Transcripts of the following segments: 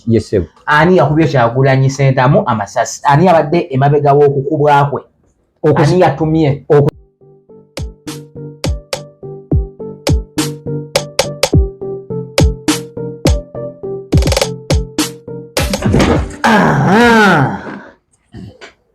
yesebo ani yakubye kyagulanyi sentamu amasasi ani abadde emabega wokukubwa kwe ani yatumye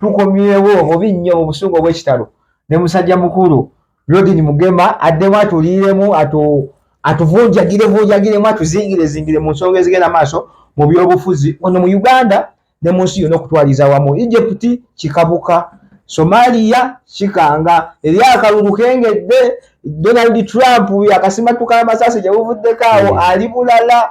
tukomyewo obubi nnyo mu busungu obw'ekitalo ne musajja mukulu rodin mugema addemu atuliiremu atuvunjagire vunjagiremu atuzingire zingire mu nsonga ezigenda maaso mu byobufuzi ono mu uganda ne mu nsi yona okutwaliza wamu egypti kikabuka somaliya kikanga eri akalulu kengedde donald trump yakasimatuka amasasi gyebuvuddeko awo hmm. ali bulala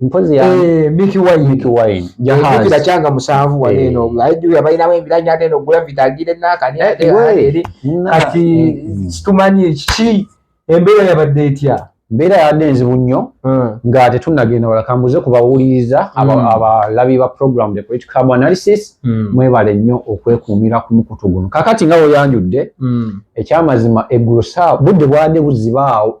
mpozi ya eh Mickey Wine Mickey Wine jahazi kujira changa musavu wa neno eh. ayi ya baina we bila nyate no gula vitagire na kani eh, ate ate ati mm. stumanyi chi embera ya badetia mbeera yadde enzibu nnyo hmm. nga tetunnagenda wala kambuze ku bawuliriza hmm. abalabi ba program the political cab analysis hmm. mwebale nnyo okwekuumira ku mukutu guno kakati nga weyanjudde ekyamazima eggulo saa budde bwade buzibaawo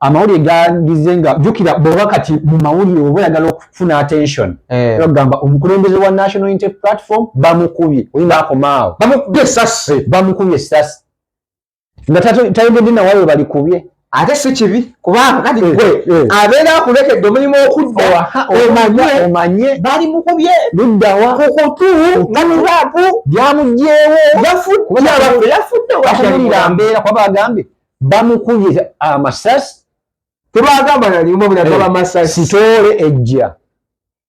amawulire gandize nga jukira bwoba kati mu mawulire oba oyagala okufuna attention eh. bagamba omukulembeze wa national inte platform bamukubye bakomaawo bamukubye esasi bamukubye esasi nga tayogedde nawayo balikubye ate si kibi kubanga kati eh, gwe eh. abeera akulekedde omulimu okudda omanye bali mukubye luddawa kukutu ngatulapu byamugyewo yafudde yafudde wakulira mbeera kuba bagambye bamukubye amasasi tebagamba nalimu bulaga eh, bamasasi sitoole ejja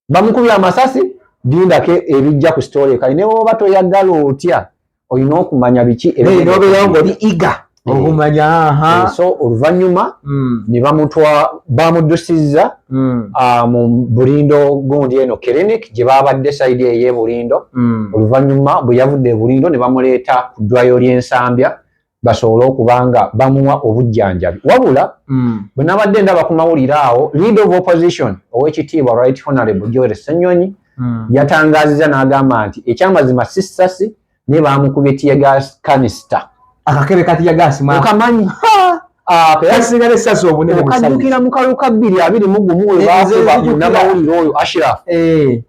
bamukubye amasasi lindako ebijja ku sitoole kali ne woba toyagala otya olina okumanya biki nobeerawo ngaoli iga eh. okumanya eh, so oluvannyuma hmm. ne bamutwa bamuddusizza hmm. ah, mu bulindo gundi eno clinic gye babadde saidi eye bulindo hmm. oluvannyuma bwe yavudde ebulindo ne bamuleeta ku ddwayo ly'ensambya basobole okuba nga bamuwa obujjanjabi wabula mm. bwe nabadde ndaba ku mawulire awo lead of opposition ow'ekitiibwa right honorable joel senyonyi mm. yatangaziza n'agamba nti ekyamazima si ssasi naye baamukubye tiyagas kanisita akakebe ka tiyagas okamanyi Ah, kasigala esasi obunene okajukira mu kaluka bbiri abiri mu gumu webakuba eh, munamawulire oyo ashiraf eh.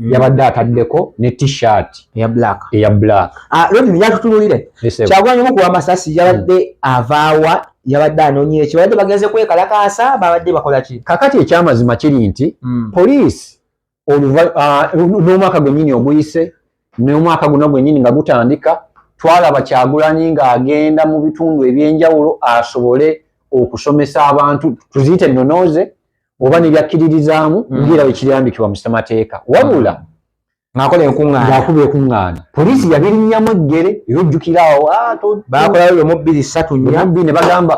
yabadde ataddeko ne t-shirt eya black eya black ah lodi yatutunulire kyagwanye mu kuwa masasi yabadde hmm. avaawa yabadde anonye ki babadde bagenze kwekalakaasa babadde bakola ki kakati ekyamazima kiri nti hmm. police oluva ah, n'omwaka gwennyini oguyise n'omwaka guno gwennyini nga gutandika twalaba kyagulanyi ng'agenda mu bitundu ebyenjawulo asobole okusomesa abantu tuziyite ennonooze oba nebyakkiririzaamu mm. ngeera wekirambikibwa mu ssemateeka wabula mm. ngakola enkuŋŋaana ngaakuba ekuŋŋaana poliisi yabirinnyamu eggere era ojjukira awo ah, bakolayo lwe mubbiri ssatu nyabbi ne bagamba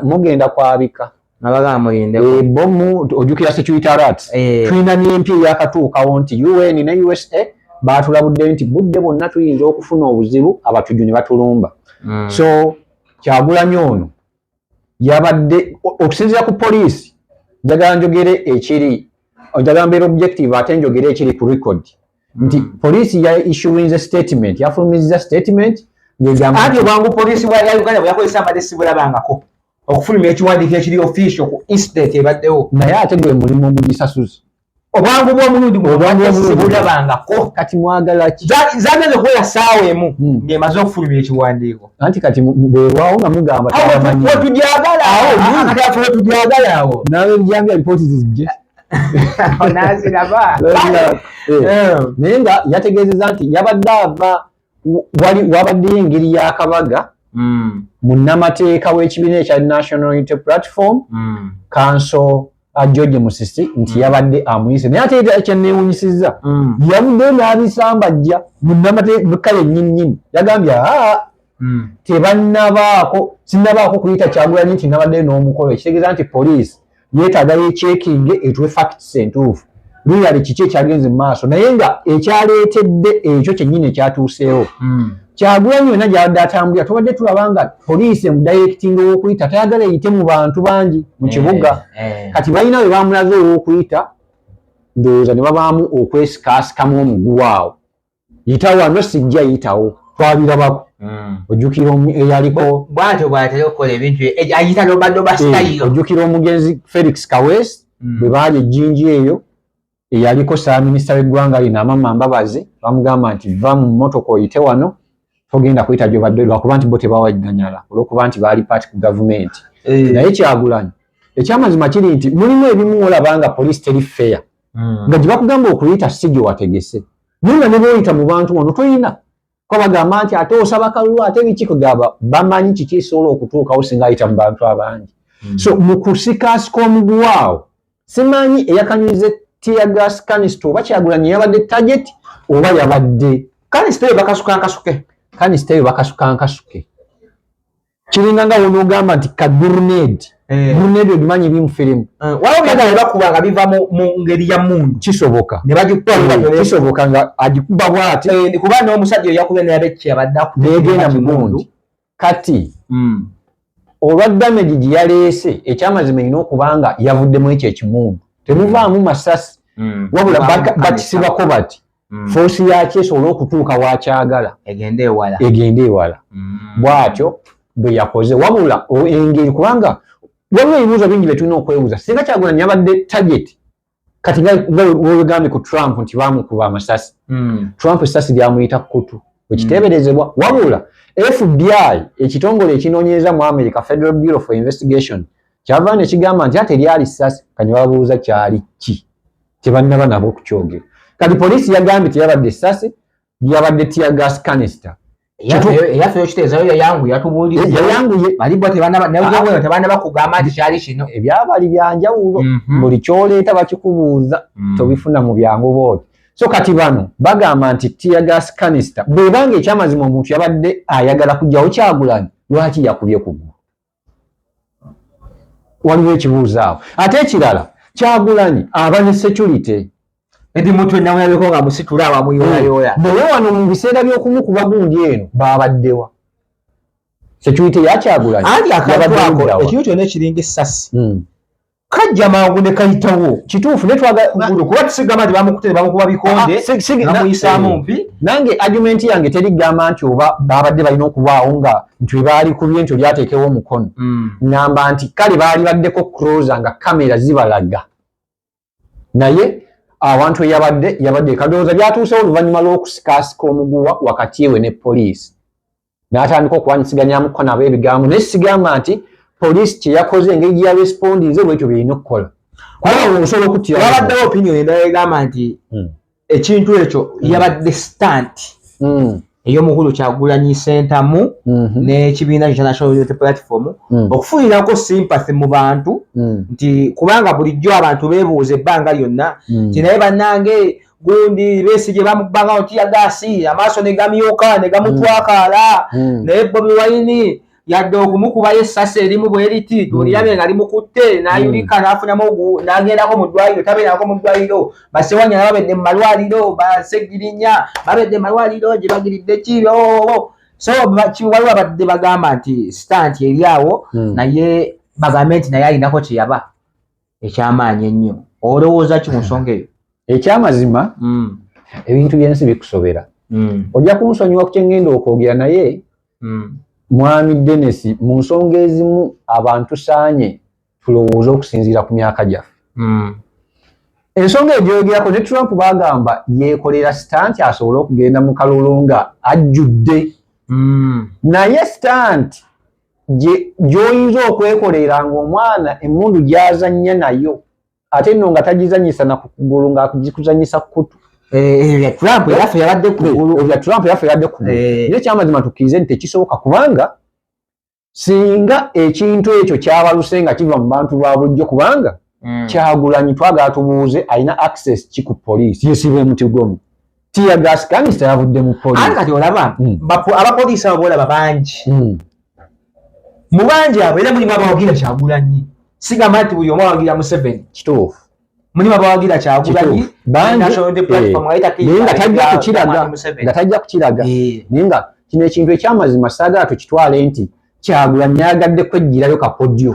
mugenda kwabika nabagamba muyindeko eh, bomu ojjukira security rat eh. tulina n'empi eyakatuukawo nti un ne usa baatulabudde nti budde bwonna tuyinza okufuna obuzibu abatujju ne batulumba mm. so kyagulanyo ono yabadde okusinzira ku poliisi njagala njogere ekiri njagala mbeera objective ate njogere ekiri ku record nti mm. poliisi ya issuinze statement yafulumizza statement anti obwangu poliisi ya uganda bweyakozesa mbadde sibulabangako okufulumya ekiwandiiko ekiri official ku incident ebaddewo naye ate gwe mulimu ogugisasuzi obwangu bwomulundi gubulabangako kati mwagalaki zageze kuwera saawa emu hmm. ngemaze okufulumira ekiwandiiko anti kati bwelwawo nga mugamba wetujagalawo nawe njambye alipooti zizije naziraba eh. eh. naye nga yategeezeza nti yabadde ava wali wabaddeyo engeri y'akabaga mm. munnamateeka w'ekibiina ekya national unity platform mm. kanso uh, george musisi nti mm. yabadde amuyise naye ate kyenneewunyisizza mm. yabuddeyo n'abisambajja munnamateeka yennyinnyini yagambye aa mm. tebannabaako sinnabaako kuyita kyagulanyi nti nabaddeyo n'omukolo ekitegeeza nti poliisi yetaaga yekyekinge etuwe facts entuufu luyale kiki ekyagenze mu maaso naye nga ekyaleetedde ekyo kyennyini ekyatuuseewo hmm. kyagulanyi yonna gyabadde atambulira tubadde tulaba nga poliisi emudayirekitinga owokuyita tayagala eyite mu bantu bangi mu eh, kibuga eh. kati balina we bamulaze owokuyita ndowooza ne babaamu okwesikaasikamu omuguwa awo yita wano sijja yitawo twabirabako hmm. ojjukira eyaliko bwatyo bwatera okukola ebintu eh, ayita lobadoba eh, sitayiyo ojjukira omugenzi felix kawes hmm. bwe baali ejjinji eyo eyaliko saaminisita w'eggwanga lino amama mbabazi bamugamba nti va mu mmotoka oyite wano togenda kuyita gyobadde lwakuba nti bo tebawaganyala olwokuba nti baali paati ku gavumenti eh. naye kyagulanyi ekyamazima kiri nti mulimu ebimu olabanga poliisi teri feya hmm. nga gye bakugamba okuyita si gye wategese naye nga ne booyita mu bantu wano toyina kuba bagamba nti ate osaba kalulu ate biki kugamba bamanyi kiki ekisobola okutuukawo singa ayita mu bantu abangi hmm. so mu kusikaasika omuguwaawo simanyi eyakanyuze tiyagas kanisita oba kyagulanyi yabadde tageti oba yabadde kanisita eyo bakasuka nkasuke kanisita eyo bakasuka nkasuke kiringa nga wonogamba nti ka gurned eh. gurned ogimanyi eri mufirimu eh, wbakuba nga biva mungeri ya mundu kisoboka nebagikubakisoboka eh, nga agikuba bwati kuba nomusajja oyakuba neyabekyabaddakugenda mumundu kati hmm. olwa damage gyeyaleese ekyamazima erina okuba nga yavuddemu ekyo ekimundu temuvaamu masasi hmm. wabula bakisibako bati mm. foosi yaki esobole okutuuka wakyagala egende ewala egende ewala mm. bwatyo bwe yakoze wabula engeri kubanga waliwo ebibuuzo bingi bye tulina okwebuuza singa kyagula nyabadde target kati nga wegambye ku trump nti bamukuba amasasi mm. trump esasi lyamuyita kukutu wekiteeberezebwa mm. wabula fbi ekitongole ekinoonyereza mu america federal bureau for investigation kyava ne kigamba nti ate lyali ssasi kanya babuuza kyali ki tebannaba nabo okukyogera kati poliisi yagambye teyabadde ssasi yabadde tiya gas canister eyaffe yokiteezayo yayanguye atubuuliryayanguye eh, balibwa tebanabanawewe tebaana bakugamba nti kyali kino ebyabali byanjawulo mhm. buli kyoleeta bakikubuuza mm. tobifuna mu byangu booti so kati bano bagamba nti tiyagas canister bwebanga ekyamazima omuntu yabadde ayagala kujjawo kyagulanyi lwaki yakubye kugulu waliwo ekibuuzo awo ate ekirala kyagulanyi aba ne security edi mutwe namulabeko nga musitula abamuyolayoola hmm. naye wano mu biseera by'okumukuba gundi eno baabaddewa security yakyagulanyi ekintu kyona ekiringa essasi hmm. kajja mangu ne kayitawo kituufu naye twaga kugulu kuba tusigamba nti bamukute ne bamukuba bikonde ah, ah, namuyisaamu eh, mpi nange argumenti yange teri gamba nti oba baabadde balina okubaawo nga nti we baali kubye nti oli ateekewo omukono hmm. ngamba nti kale baali baddeko cruiser nga kamera zibalaga naye awantu eyabadde yabadde kadowooza byatuusewo oluvannyuma lw'okusikaasika omuguwa wakati ewe ne poliisi n'atandika okwanyisiganyamuko nabo ebigambo naye sigamba nti poliisi kyeyakoze engeri gye yarespondinze bwekyo byerina okukola osobola okuttiwabaddewo opinion endala egamba nti hmm. ekintu ekyo hmm. yabadde stant hmm. ey'omukulu kyagulanyi sentamu n'ekibiina international unity platform okufunirako sympathy mu bantu nti kubanga bulijjo abantu bebuuza ebbanga lyonna nti naye banange gundi Besigye bamubbanga mu tiyagaasi amaaso ne gamyuka ne gamutwakaala hmm. hmm. naye Bobi Wine yadde okumukubayo essasi erimu bwe liti tulirabe hmm. nga limukutte n'ayulika n'afunamu n'agendako mu ddwaliro tabeerako mu ddwaliro basewanya na babedde mu malwaliro basegirinya babedde mu malwaliro gye bagiridde kiro oh, oh, oh. so waliwo abadde bagamba nti sitanti eri awo naye bagambe nti naye alinako kye yaba ekyamaanyi ennyo olowooza ki mu nsonga eyo ekyamazima mm. ebintu byensi bikusobera mm. ojja kunsonyiwa kukyengenda okwogera naye mm. mwami denis mu nsonga ezimu abantu saanye tulowooza okusinziira ku myaka gyaffe mm. ensonga egyogerako ne trump bagamba yekolera sitanti asobole okugenda mu kalulu nga ajjudde mm. naye sitanti gy'oyinza okwekoleera ng'omwana emmundu gy'azannya nayo ate nno nga tagizannyisa na ku kugulu ng'agikuzannyisa ku kutu ebya trump yaffe yabadde kugulu ebya trump yaffe yabadde kugulu eh. naye kyamazima tukkirize nti tekisoboka kubanga singa ekintu ekyo kyabaluse nga kiva mu bantu ba bulijjo kubanga mm. kyagulanyi twagala tubuuze alina access ki ku police yesiba omuti gwomu tiya gas kanisa yavudde mu police ati kati olaba mm. abapoliisi abo bolaba bangi mm. mu bangi abo era mulimu abawagira kyagulanyi sigamba nti buli omu awagira museveni kituufu mulimu abawagira kyagulanyi eh, naye nga tajja kukiraga nga tajja kukiraga eh. naye nga kino ekintu ekyamazima saagala tukitwale nti kyagulanyi ayagadde kwejjirayo kakodyo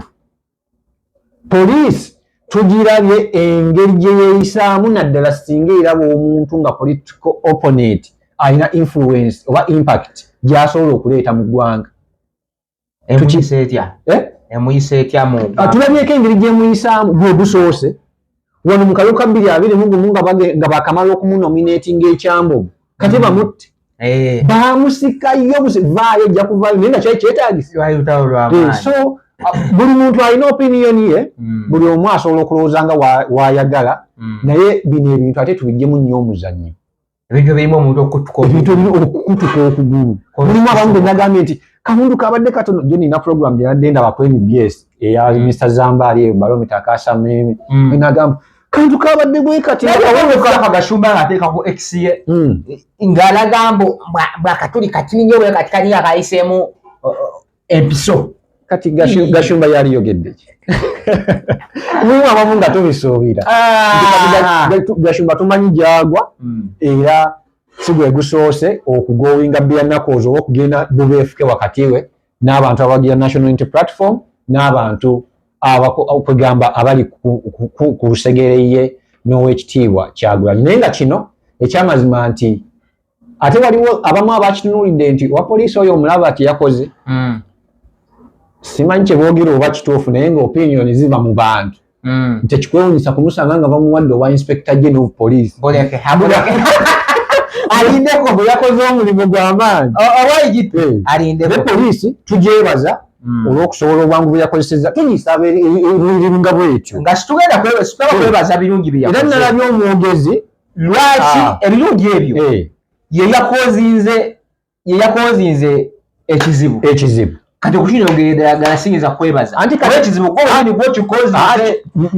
poliisi tugirabye engeri gye yeeyisaamu naddala singa eraba omuntu nga political opponent alina influence oba impact gyasobola okuleeta mu ggwanga emuyisa etya eh? emuyisa etya mu ah, tulabyeko engeri gyemuyisaamu gwe gusoose wano mu kalulu ka bbiri abiri mu gumu nga bakamala okumunominatinga ekyambogo kati bamutte eh. bamusikayo vaayo ojja kuvaayo naye nga kyali kyetaagisiso eh, buli muntu alina opiniyoni ye hmm. buli omu asobola okulowooza nga wayagala hmm. naye bino ebintu ate tubijjemu nnyo omuzannyo ebintu ebirimu omuntu okutuka ebintu ebirimu okutuka okugulu mulimu abamu be nagambye nti kawundu kabadde katono jo nina program gye nadde ndaba ku nbs eya mm. mr zambaali eyo balomita akasa mimi mm. nagamba kantu kabadde gwekatiyagashumba ngaateekaku exe mm. ng'alagamba bwakatuli katini nyo bwe kati kani akayiseemu empiso kati gashumba yali yogedde ki mulimu abamu nga tubisuubira ah. gashumba tumanyi gyagwa hmm. era si gwe gusoose okugowinga byannaku ozo oba okugenda bubeefuke wakati we n'abantu abagira national inty platform n'abantu kwegamba abali ku lusegere ye n'owekitiibwa kyagulanyi naye nga kino ekyamazima nti ate waliwo abamu abakitunulidde nti owa poliisi oyo omulaba kyeyakoze mm. simanyi kyebogera oba kituufu naye nga opinion ziva mu bantu mm. nti ekikwewunyisa kumusanga nga bamuwadde owa inspector general of police alindeko bwe yakoze omulimu gw'amaanyi alindeko poliisi tugyebaza Mm. olwokusobola obwangu bweyakozeseza tugisaba ebiringa bwetyo nga situgenda kwebaza birungi byeyakoze era nalabye omwogezi lwaki ah. ebirungi ebyo eh. yeyakozinze yeyakozinze ekizibu ekizibu kati okukinyogeredagala siyinza kwebaza anti kati ekizibu gwoani gwokikozi ah,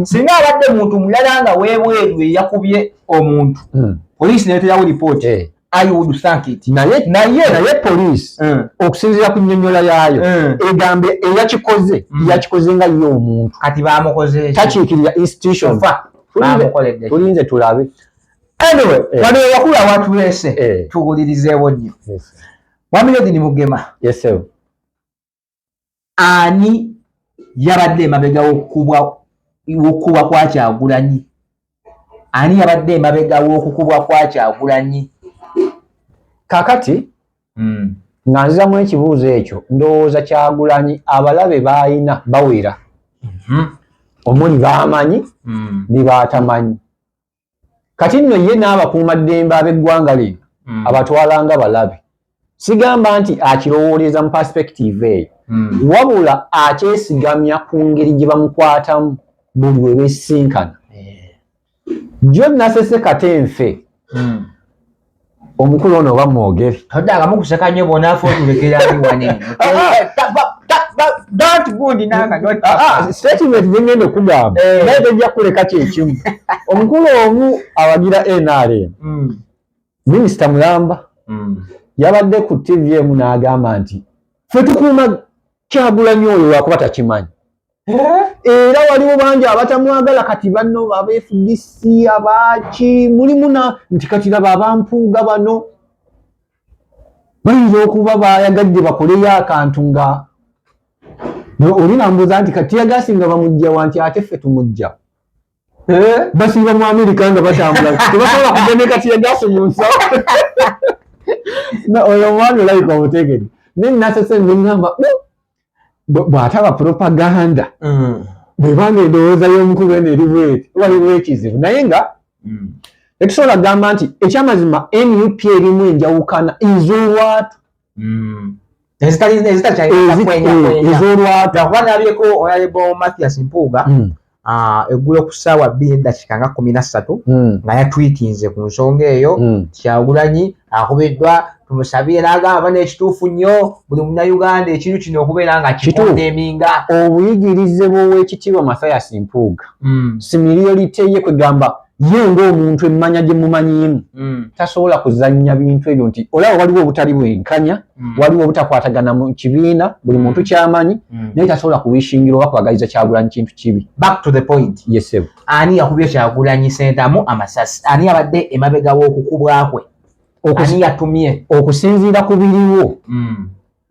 singa abadde muntu mulala nga webweru eyakubye omuntu hmm. poliisi nayeterawo lipooti eh. I would thank it. Naye naye naye police mm. okusinzira ku nyonyola yayo mm. egambe eyakikoze mm. yakikoze nga yo omuntu kati bamukoze takikirira institution fa bamukolede tulinze tulabe anyway eh. wano wakula watu lese eh. tuwulirize wonyo yes. wamile dini mugema yes sir ani yabadde emabega wokukubwa kwa kyagulanyi ani yabadde emabega wokukubwa kwa kyagulanyi kakati mm. nga nzizamu ekibuuzo ekyo ndowooza kyagulanyi abalabe bayina bawera mm -hmm. omuli bamanyi mm. nebatamanyi kati nno ye n'abakuuma ddembe ab'eggwanga lino mm. abatwalanga balabe sigamba nti akirowooleza mu perspective eyo mm. wabula akyesigamya ku ngeri gye bamukwatamu buli we besinkana jjo nasese kate nfe mm. omukulu ono oba mwogere todde agamu kuseka nnyo bonafu otulekera wani statement zengenda okugamba eh. naye tojja kuleka kyekimu omukulu omu awagira nrm hmm. minisita mulamba hmm. yabadde ku tv emu n'agamba nti fe tukuuma kyagulanyi oyo lwakuba takimanyi era waliwo bangi abatamwagala kati bano abafdc abaaki mulimu na nti kati laba abampuuga bano bayinza okuba bayagadde bakoleyo akantu nga oli nambuuza nti kati yagasi nga bamujja wanti ate ffe tumujja eh? basiiba mu amerika nga batambula tebasobola kugemeka tiyagasi mu nsawo oyo omwana olayika omutegede naye nasese nengamba oh, bwataba propaganda mm. bwebanga endowooza y'omukulu eno eri bweti waliwo ekizibu naye nga mm. etusobola gamba nti ekyamazima nup erimu enjawukana iz'olwatu mm. ez'olwatu Ah, eggulo ku ssaawa bbiri eddakiika nga kkumi na ssatu hmm. nga yatwitinze ku nsonga eyo hmm. kyagulanyi akubiddwa tumusabire n'agamba n'ekituufu nnyo buli munnayuganda ekintu kino okubeera nga kituueminga obuyigirize bw'owekitiibwa mathayas mpuuga hmm. simiriyo liteye kwegamba ye ng'omuntu emmanya gye mumanyiimu mm. tasobola kuzannya bintu ebyo nti olaba waliwo obutali bwenkanya mm. waliwo obutakwatagana mu kibiina buli mm. muntu kyamanyi mm. naye tasobola kuwishingira oba kwagaliza kyagulanyi kintu kibi yesebo ani yakubye kyagulanyi sentamu amasasi ani abadde emabega w'okukubwa kwe ani yatumye okusinziira ku biriwo mm.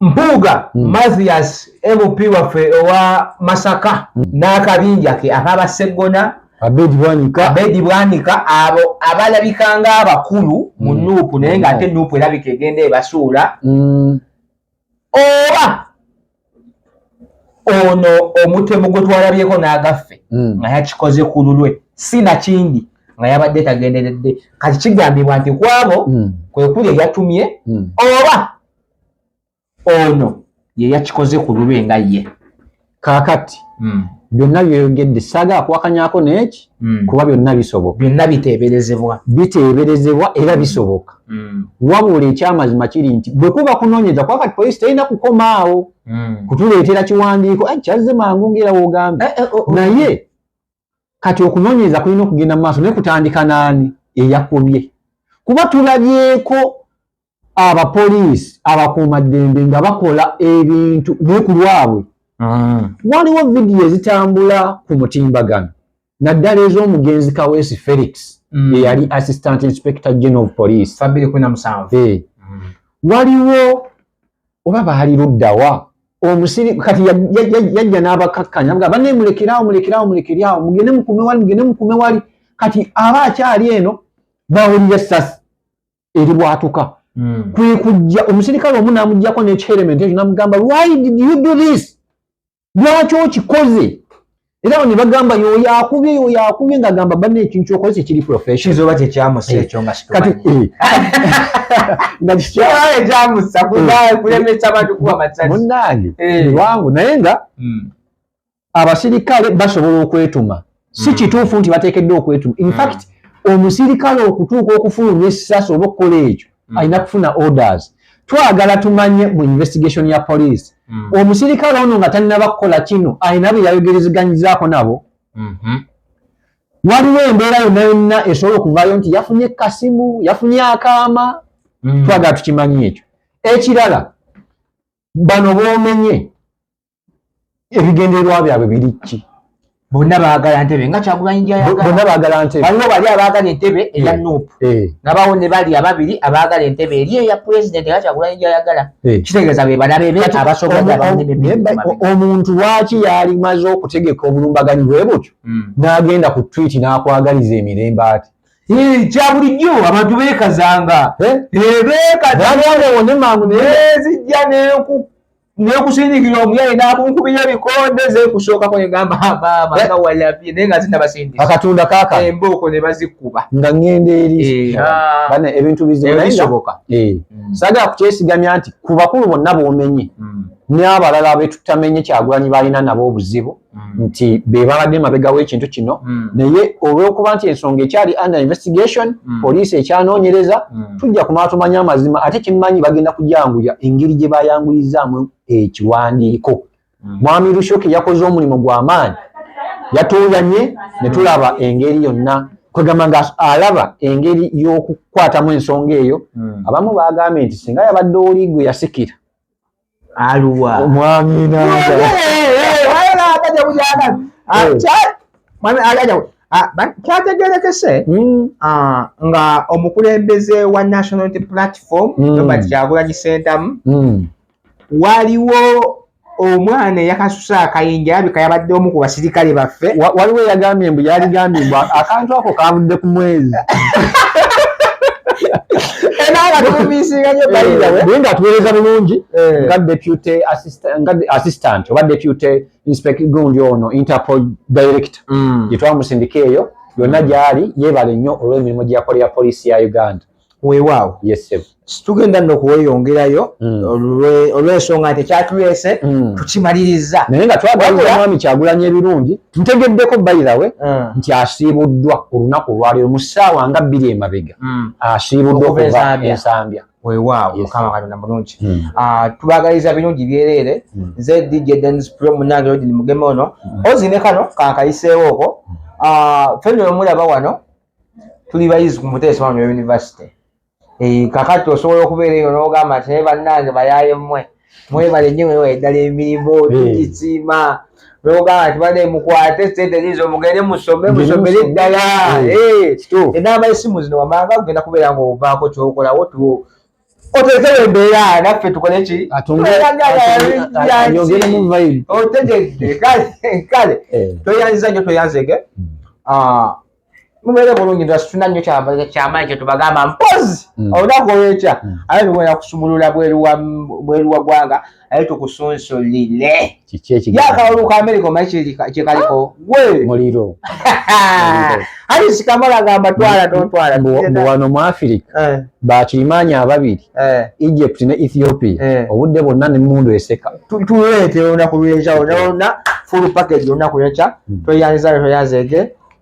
Mpuuga mm. Mathias MP waffe owa Masaka mm. n'akabinja ke akaba Seggona Abedi Bwanika Abedi Bwanika abo abalabika ng'abakulu mu mm. nuupu naye nga ate mm. nuupu erabika egenda ebasuula mm. oba ono omutemu gwe twalabyeko n'agaffe mm. nga yakikoze ku lulwe si nakindi nga yabadde tagenderedde kati kigambibwa nti kwabo mm. kwe kuli eyatumye mm. oba ono ye yakikoze ku lulwe nga ye kaakati hmm. byonna byoyogedde saaga akuwakanyako neeki hmm. kuba byonna bisoboka byonna biteeberezebwa biteeberezebwa era bisoboka hmm. wabula ekyamazima kiri nti bwe kuba kunoonyeza kuba kati poliisi terina kukoma awo kutuleetera kiwandiiko kyazze mangu ngaera wogambye eh, eh, oh, oh. naye kati okunoonyereza kulina okugenda mu maaso naye kutandika n'ani eyakubye kuba tulabyeko abapoliisi abakuumaddembe nga bakola ebintu naye ku lwabwe mm. waliwo vidiyo ezitambula ku mutimbagano naddala ez'omugenzi kaweesi felix mm. eyali assistant inspector general of police eh. mm. waliwo oba baali luddawa omusiri kati yajja n'abakakkanya nga banne mulekeraawo mulekeraawo mulekeraawo mugende mukume wali mugende mukume wali kati aba akyali eno bawulira essasi eribwatuka hmm. kwe kujja omusirikale omu n'amugyako n'ekiherementi ekyo n'amugamba why did you do this lwaki okikoze era awo ne bagamba yoyo akubye yoyo akubye nga gamba banna ekintu kyokoze tekiri professionzoba tekyamusa eh, ekyo nga kati eh. nga kikyamusa eh. kulemesa abantu kuba masasi munnange wangu naye nga hmm. abasirikale basobola okwetuma si hmm. kituufu nti bateekeddwa okwetuma infact hmm. omusirikale okutuuka okufulumya essasi oba okukola ekyo hmm. alina kufuna orders twagala tumanye mu investigation ya poliisi omusirikale ono nga talinaba kukola kino alina bye yayogerezeganyizaako nabo mhm. waliwo embeera yonna yonna esobola okuvayo nti yafunye kasimu yafunye akaama twagala tukimanyi ekyo ekirala bano bomenye ebigendererwa byabwe biri ki bonna baagala ntebe nga kyagulanyi gyayagala baagala ntebe waliwo bali abaagala entebe eya eh, nup eh. nabawo ne bali ababiri abaagala entebe eri eya pulezidenti nga kyagulanyi gyayagala eh. kitegeeza be balabe be abasoboaomuntu lwaki yalimaze okutegeka obulumbaganyi bwe butyo hmm. n'agenda ku twiti n'akwagaliza emirembe ati kya bulijjo abantu beekazanga beekazangaeziggya nenku nekusindikira omuyaye nakunkubira ebikonde zekusookako negamba maama nga eh? walabye naye nga zina basindika akatunda kaka embooko ne bazikuba nga ngenda eri eh, ah. bana ebintu bizibisoboka eh. mm. sagala kukyesigamya nti ku bakulu bonna bomenye mm. n'abalala betutamenye kyagulanyi balina nabo obuzibu mm. nti be babadde mabega w'ekintu kino mm. naye olw'okuba nti ensonga ekyali under investigation mm. poliisi ekyanoonyereza mm. tujja kumala tumanye amazima ate kimanyi bagenda kujanguya engeri gye bayanguyizaamu ekiwandiiko mm. mwami lushoki yakoze omulimu gw'amaanyi yatuuyanye ne tulaba engeri yonna kwegamba nga alaba engeri y'okukwatamu ensonga eyo mm. abamu baagambye nti singa yabadde oli gwe yasikira aluwa mwami nanga kyategerekese hmm. ah, nga omukulembeze wa national platform hmm. robert kyagulanyi sentamu hmm. waliwo omwana eyakas Musa Kayinja alabika yabadde omu ku basirikale baffe. Waliwo eyagambye mbu yaligambye mbu akantu ako kavudde ku mwezi. naye nga tuweereza bulungi eh. nga deputy assistant oba deputy inspect gundi ono interpol director mm. gyetwamusindika eyo yonna gyali yebale nnyo olw'emirimu gyeyakolera poliisi ya uganda weewaawo situgenda no kuweyongerayo mm. olw'ensonga nti ekyatuleese mm. tukimaliriza naye nga twagaliza mwami kyagulanya ebirungi ntegeddeko bayirawe mm. nti asiibuddwa ku lunaku olwaliro mu ssaawa nga bbiri emabega asiibuddwa okuva ensambya weewaawo mukama katonda mulungi ah, tubagaliza birungi byereere nze dj denis pro munange odini mugeme ono ozi ne kano kankayiseewo oko ah, fenno omulaba wano tuli bayizi ku muteesa wano yunivasite eh, kakati osobola okubeera eyo n'ogamba nti naye bannange bayaye mmwe mwebale nnyo mwewa eddala emirimu eh. tugisiima n'ogamba nti bade mukwate sente ziizo mugende musome musomere eddala enamba esimu zino wamanga ogenda kubeera ng'ovaako kyokolawo otekewo embeera naffe tukole ki otegedde kale eh. tweyanziza nyo tweyanzege hmm. ah, mubeere bulungi nti asituna nnyo kyamaanyi kyetubagamba mpozi hmm. olunaku olwekya hmm. abe bigenda kusumulula bweru wa ggwanga naye tukusunsulire kiki ekiyakalulu ka amerika omanyi kyekaliko gwe muliro ali sikamala agamba twala tontwala wano mu afirika eh. bakirimaanyi ababiri eh. egypt ne ethiopia eh. obudde bwonna nemundu eseka tuleete olunaku lwenja olona full package olunaku lwenca hmm. tweyanzizale tweyanzeege